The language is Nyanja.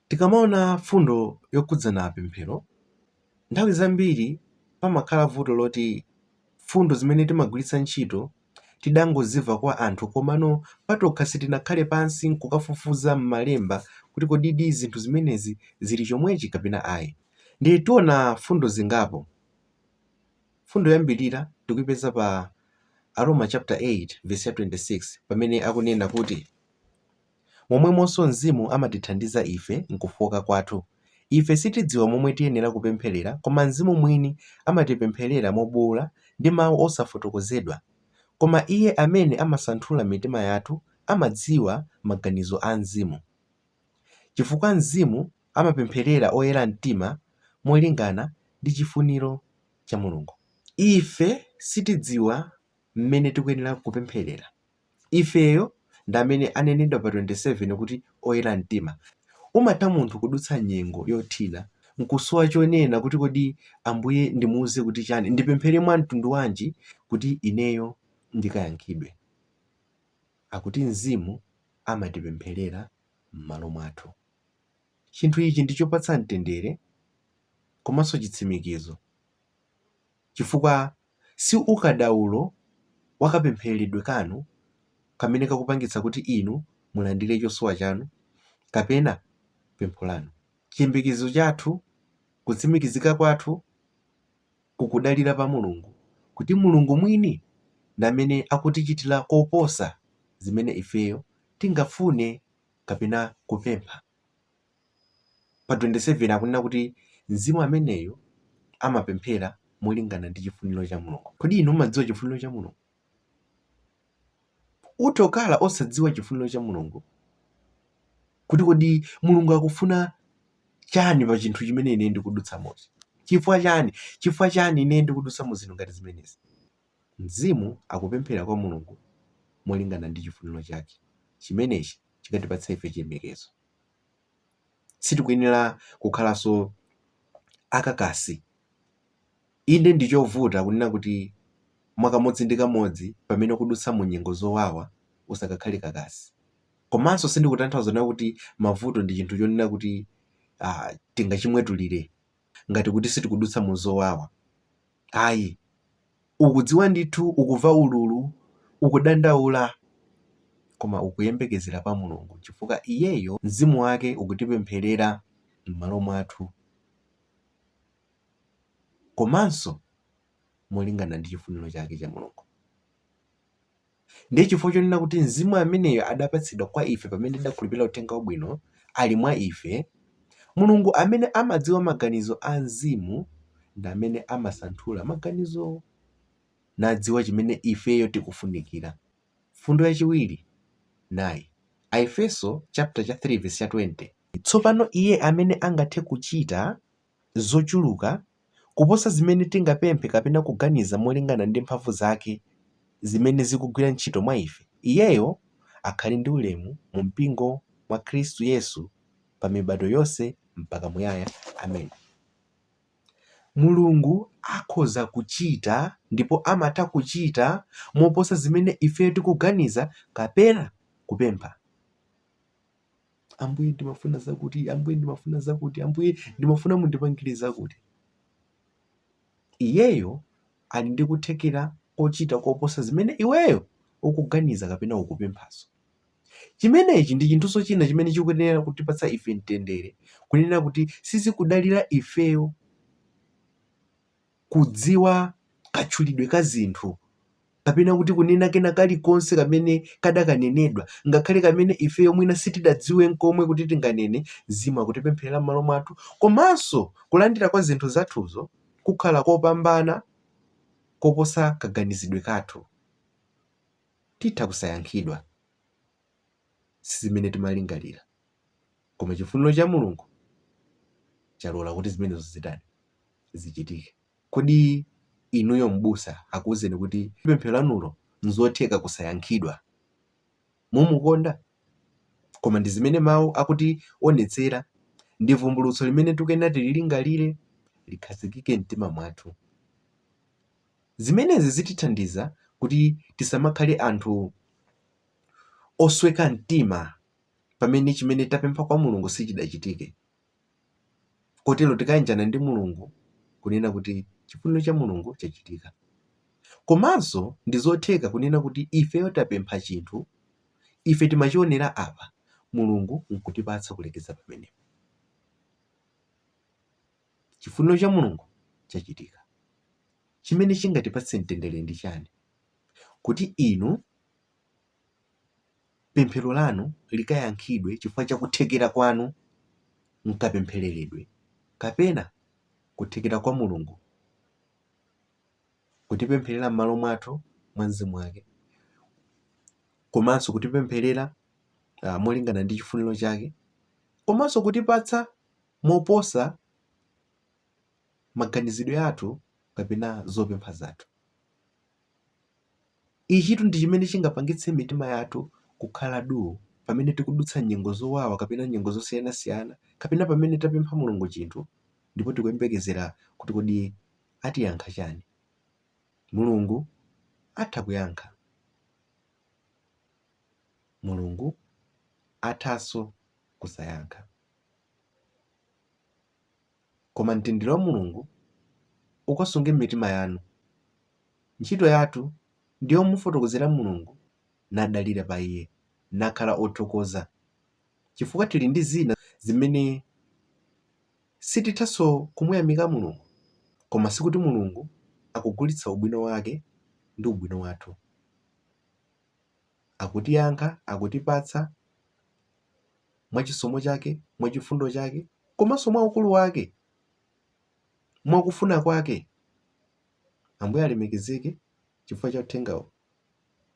Tikamaona mfundo yokhudzana pemphero, nthawi zambiri pamakhala vuto loti mfundo zimene timagwiritsa ntchito tidangozimva kwa anthu komano patokha sitinakhale pansi n'kukafufuza m'Malemba kuti kodidi zinthu zimenezi zili chomwechi kapena ayi. Ndiye tiona mfundo zingapo. Mfundo yoyambirira tikuipeza pa Aroma chaputala 8 vesi ya 26 pamene akunena kuti. Momwemonso Mzimu amatithandiza ife m'kufooka kwathu. Ife sitidziwa momwe tiyenera kupempherera koma Mzimu Mwini amatipempherera mobuula ndi mau osafotokozedwa. Koma Iye amene amasanthula mitima yathu amadziwa maganizo a Mzimu. Chifukwa Mzimu amapempherera oyera mtima molingana ndi chifuniro cha Mulungu. Ife sitidziwa m'mene tikuyenera kupempherera. ifeyo ndi amene anenedwa pa 27 kuti oyera mtima. Umatha munthu kudutsa nyengo yothina nkusowa chonena kuti kodi Ambuye ndimuuze kuti chani? Ndipemphere mwa mtundu wanji kuti ineyo ndikayankhidwe? Akuti Mzimu amatipempherera m'malo mwathu. Chinthu ichi ndi chopatsa mtendere komanso chitsimikizo chifukwa si ukadaulo wa kapempheredwe kanu kamene kakupangitsa kuti inu mulandire chosowa chanu kapena pempho lanu. Chiyembekezo chathu, kutsimikizika kwathu, kukudalira pa Mulungu kuti Mulungu mwini ndi amene akutichitira koposa zimene ifeyo tingafune kapena kupempha. pa 27 akunena kuti mzimu ameneyo amapemphera molingana ndi chifuniro cha Mulungu. Kodi inu mumadziwa chifuniro cha Mulungu? Utha kukhala osadziwa chifuniro cha Mulungu kuti kodi Mulungu akufuna chani pa chinthu chimene ine ndikudutsamochi. Chifukwa chani? Chifukwa chani ine ndikudutsa mu zinthu ngati zimenezi? Mzimu akupemphera kwa Mulungu molingana ndi chifuniro chake. Chimenechi chikatipatsa ife chiyembekezo. sitikuyenera kukhalanso akakasi. Inde ndi chovuta kunena kuti mwakamodzi ndi kamodzi pamene ukudutsa mu nyengo zowawa usakakhale kakasi. Komanso sindikutanthauza kunena kuti mavuto ndi chinthu chonena kuti tingachimwetulire ngati kuti sitikudutsa mu zowawa. Ayi. Ukudziwa ndithu, ukuva ululu, ukudandaula, koma ukuyembekezera pa Mulungu chifukwa Iyeyo Mzimu Wake ukutipempherera m'malo mwathu komanso molingana ndi chifuniro chake cha Mulungu. Ndiye chifukwa chonena kuti mzimu ameneyo adapatsidwa kwa ife pamene tidakhulupirira uthenga wabwino, ali mwa ife, Mulungu amene amadziwa maganizo a mzimu ndi amene amasanthula maganizowo, nadziwa chimene ifeyo tikufunikira. Mfundo yachiwiri nayi, Aefeso chapter 3 verse 20. Tsopano Iye amene angathe kuchita zochuluka kuposa zimene tingapemphe kapena kuganiza molingana ndi mphamvu zake zimene zikugwira ntchito mwa ife, iyeyo akhale ndi ulemu mu mpingo mwa Khristu Yesu pa mibado yonse mpaka muyaya. Amen. Mulungu akhoza kuchita ndipo amatha kuchita moposa zimene ifeyo tikuganiza kapena kupempha. ambuye ndimafuna zakuti ambuye ndimafuna zakuti ambuye ndimafuna mundipangire zakuti iyeyo ali ndi kuthekera kochita koposa zimene iweyo ukuganiza kapena ukupemphazo chimenechi ndi chinthunso china chimene chikuyenera kutipatsa ife mtendere kunena kuti sizikudalira ifeyo kudziwa katchulidwe ka zinthu, kapena kuti kunena kena kalikonse kamene kadakanenedwa, ngakhale kamene ifeyo mwina sitidadziwe nkomwe kuti tinganene, Mzimu akutipempherera m'malo mwathu, komanso kulandira kwa zinthu zathuzo kukhala kopambana koposa kaganizidwe kathu. Titha kusayankhidwa. Sizimene timalingalira. Koma chifuniro cha Mulungu chalola kuti zimenezo zitani? zichitike. Kodi inuyo m'busa akuuzeni kuti pemphero lanulo n'zotheka kusayankhidwa? Mumukonda? Koma ndi zimene Mawu akutionetsera, ndi vumbulutso limene tikuyenera tililingalire, likhazikike m'mtima mwathu. Zimenezi zitithandiza kuti tisamakhale anthu osweka mtima pamene chimene tapempha kwa Mulungu sichidachitike. Kotero tikayanjana ndi Mulungu kunena kuti chifuniro cha Mulungu chachitika. Komanso ndi zotheka kunena kuti ifeyo tapempha chinthu, ife timachionera apa, Mulungu n'kutipatsa kulekeza pamenepo. Chifuniro cha Mulungu chachitika. Chimene chingatipatse mtendere ndi chani? Kuti inu pemphero lanu likayankhidwe chifukwa cha kuthekera kwanu m'kapemphereredwe kapena kuthekera kwa Mulungu kutipempherera m'malo mwathu mwa mzimu wake komanso kutipempherera uh, molingana ndi chifuniro chake komanso kutipatsa moposa maganizidwe athu kapena zopempha zathu Ichitu ndi chimene chingapangitse mitima yathu kukhala duu pamene tikudutsa nyengo zowawa kapena nyengo zosiyanasiyana kapena pamene tapempha Mulungu chinthu ndipo tikuyembekezera kuti kodi atiyankha chani. Mulungu atha kuyankha. Mulungu athanso kusayankha. Koma mtendere wa Mulungu ukasunge m'mitima yanu. Ntchito yathu ndi yomufotokozera Mulungu nadalira pa Iye nakhala othokoza chifukwa tili ndi zina zimene sitithanso kumuyamika Mulungu. Koma sikuti Mulungu akugulitsa ubwino wake ndi ubwino wathu. Akutiyankha, akutipatsa. mwa chisomo chake, mwa chifundo chake, komanso mwa ukulu wake, mwa kufuna kwake. Ambuye alemekezeke chifukwa cha uthengawo.